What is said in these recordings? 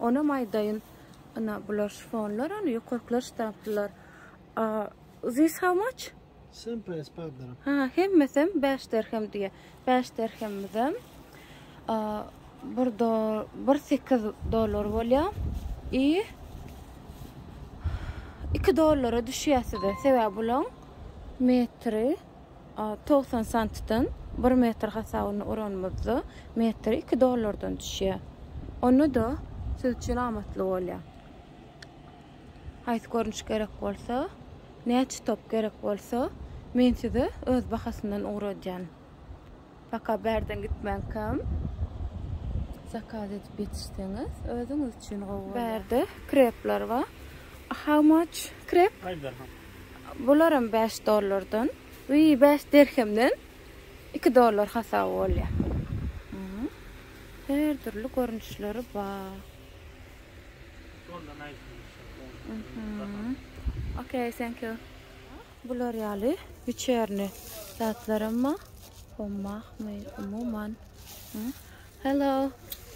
Onam aýdaýyn ina bular şponlar ony ýokarkylar ştaplylar. This how much? Same price five dirhem. Ha, hemmesem 5 dirhem diýe. 5 dirhemmizem bir do bir sekiz dollar bolýa. I 2 dollara düşýär size. Sebäbi bulaň metri Togsan santdan bir metr hasabyny uranymyzda, metr iki dollardan düşýär. Onda-da siz üçin amatly bolýar. Haýsy görnüş gerek bolsa, näçe top gerek bolsa, men size öz bahasyndan ugradýan. Baka bärden gitmänkäm zakaz edip ýetişseňiz özüňiz üçin gowy bolýar. Bärde krepler bar. How much krep? Five dirham. Bularam 5 dollardan. Wiý, 5 dirhemden 2 dollar hasaby bolýar. Mhm. Her dürli görnüşleri bar. Şol da näçe? Mhm. Okay, thank you. Bular ýaly wiçerni zatlaram ba. Hommahmy umuman. Hello.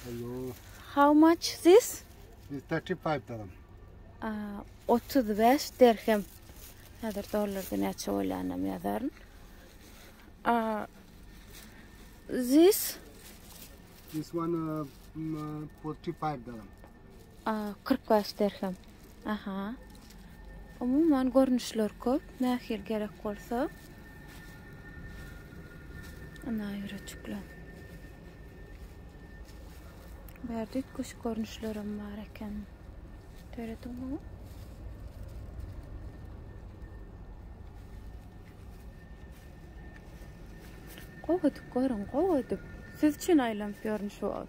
Hello. How much this? This 35 dirhem. Aa, 35 dirhem. Häzir dollarda näçe bolýanam ýazaryn. Aa, this? This one uh, 45 dirhem. A kyrk bäş derhem. Aha. Umuman görnüşler köp. Nähili gerek bolsa. Ana ýüreçikler. Bärdik kuş görnüşlerim bar eken. Töredim bu. Gowadyk görün, gowadyk. Siz üçin aýlanyp ýörün şu wagt.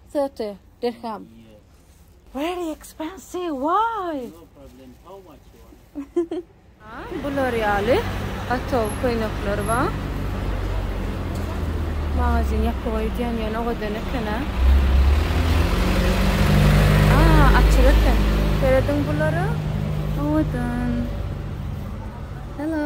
Thirty dirham. Very expensive, why? No problem, how much you want? Ha, bular ýaly atow köýnekler bar. Magazin ýapyk öýdýän ýöne o gadan eken-ä. Aa, açyk eken. Serediň bulara. Owadan. Hello.